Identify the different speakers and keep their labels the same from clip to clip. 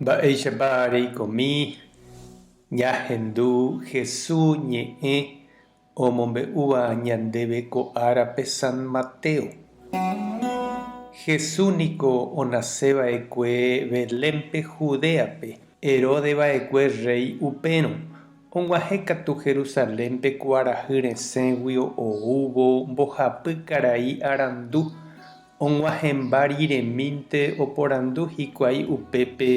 Speaker 1: Mba'éichapa reikomi ñahendu Jesús ñe'ẽ omombe'úva ñandéve ko árape San Mateo? Jesús niko onase va'ekue Belénpe Judéape, Herodes va'ekue rréi upérõ. Og̃uahẽ katu Jerusalénpe kuarahy resẽgui oúvo mbohapy karai arandu Og̃uahẽmba riremínte oporandu hikuái upépe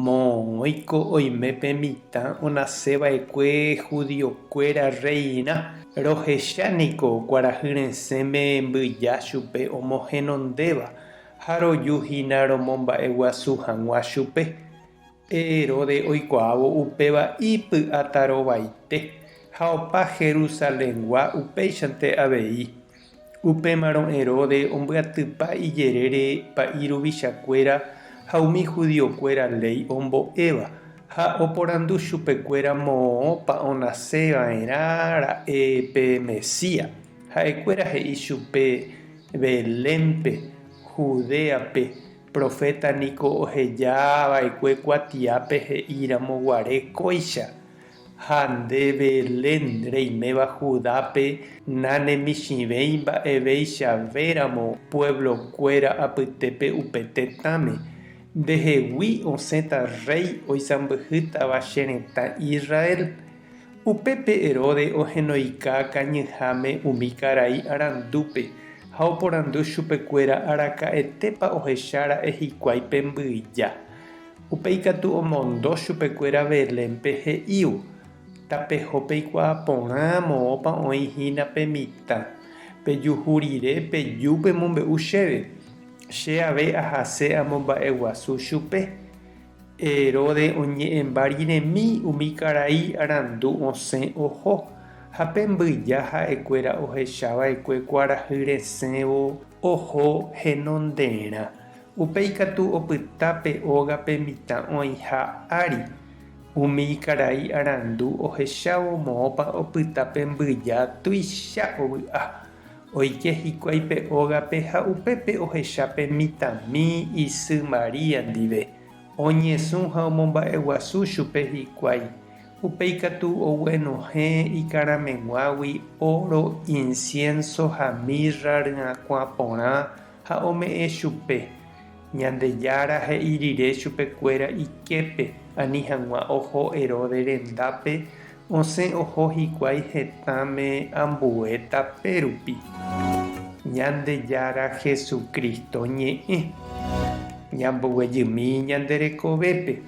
Speaker 1: moõguiko oime pe mitã onase vaekue judiokuéra reina, rohecha niko kuarahy resẽme mbyja chupe omohenondéva ha roju hína romomba'eguasu hag̃ua chupe. Pe Heróde oikuaávo upéva ipy'atarovaite ha opa Jerusalengua upéichante avei. Upémarõ Herodes ombyatypa ijerére pa'i ruvichakuéra ha umi judiokuéra léi ombo'éva, ha oporandu chupekuéra moõpa onase va'erã ra'e pe Mesías. Ha'ekuéra he'i chupe, Belénpe, Judéape, proféta niko oheja va'ekue kuatiápe he'íramo guare kóicha. Ha nde Belén reiméva Judápe nanemichĩvéi mba'eveichavéramo pueblokuéra apytépe upe tetãme, ndehegui osẽta rréi oisãmbyhýtava che retã Israel. Upépe Herodes ohenoika kañyháme umi karai arandúpe ha oporandu chupekuéra araka'etépa ohechára'e hikuái pe mbyja. Upéi katu omondo chupekuéra Belénpe he'ívo, Tapeho peikuaa porã moõpa oĩ hína pe mitã. Pejuhu rire peju pemombe'u chéve, che ave ahase amomba'eguasu chupe. Heróde oñe'ẽmba riremi umi karai arandu osẽ oho, ha pe mbyja ha'ekuéra ohechava'ekue kuarahy resẽvo oho henonderã. Upe ikatu opyta pe óga pe mitã oĩha ári. Umi ikarai arandu ohechávo moõpa opyta pe mbyja tuicha ovy'a. Oike hikuái pe ógape ha upépe ohecha pe mitãmi isy María ndive. Oñesũ ha omomba'eguasu chupe hikuái. Upe ikatu oguenohẽ ikarãmeguágui óro, insiénso ha mirra ryakuã porã, Ha ome'ẽ chupe. Ñandejára he'i rire chupekuéra iképe, ani hag̃ua oho Heróde rendápe, osẽ oho hikuái hetãme ambue tape rupi. Ñandejára Jesucristo ñe'ẽ. Ñamboguejymi ñande rekovépe.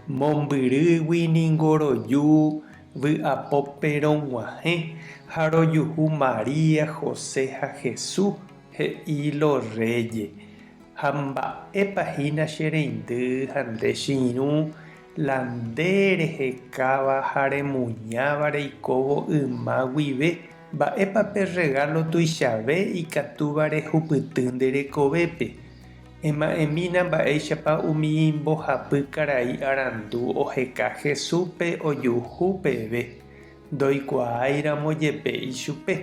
Speaker 1: Mombyrýgui ningo roju Vy'apópe rog̃uahẽ ha rojuhu María, José ha Jesús, he'i lo rréje, Ha mba'épa hína che reindy ha nde che irũ, la nde rehekáva ha remuñáva reikóvo yma guive, mba'épa pe rregálo tuichave ikatúva rehupyty nde rekovépe? Ema'ẽmína mba'éichapa umi mbohapy karai arandu oheka Jesúspe ojuhu peve ndoikuaáiramo jepe ichupe,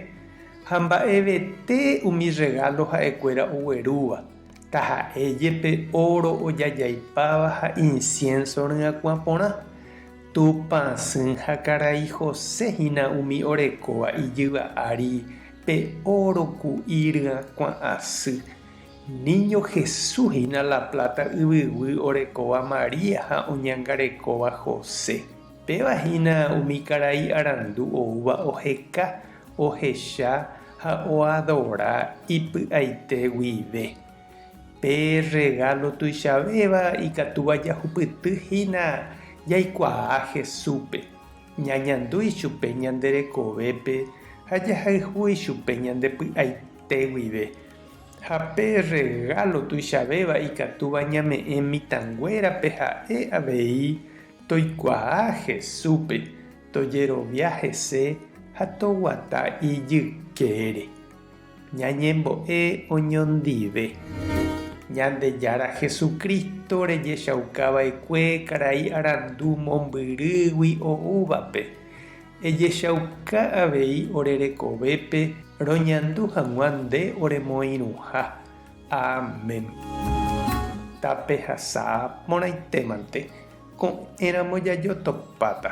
Speaker 1: ha mba'evete umi rregálo ha'ekuéra oguerúva, taha'e jepe óro ojajaipáva ha insiénso ryakuã porã. Tupã sỹ ha karai José hína umi orekóva ijyva ári pe óro ku'i ryakuã asy. Niño Jesús hína La Plata yvyguy orekóva María ha oñangarekóva José. Péva hína umi karai arandu oúva oheka, ohecha ha oadora ipy'aite guive. Pe rregálo tuichavéva ikatúva jahupyty hína jaikuaa Jesúspe, ñañandu ichupe ñande rekovépe ha jahayhu ichupe ñande py'aite guive. Ha pe rregálo tuichavéva ikatúva ñame'ẽ mitãnguérape ha'e avei toikuaa Jesúspe, tojerovia hese ha toguata ijykére. Ñañembo'e oñondive. Ñandejára Jesucristo rejechaukava'ekue karai arandu mombyrýgui oúvape. Ejechauka avei ore rekovépe roñandu hag̃ua nde oremoirũha. Amén. Tapehasa porãitémante, ko'ẽramo jajotopáta.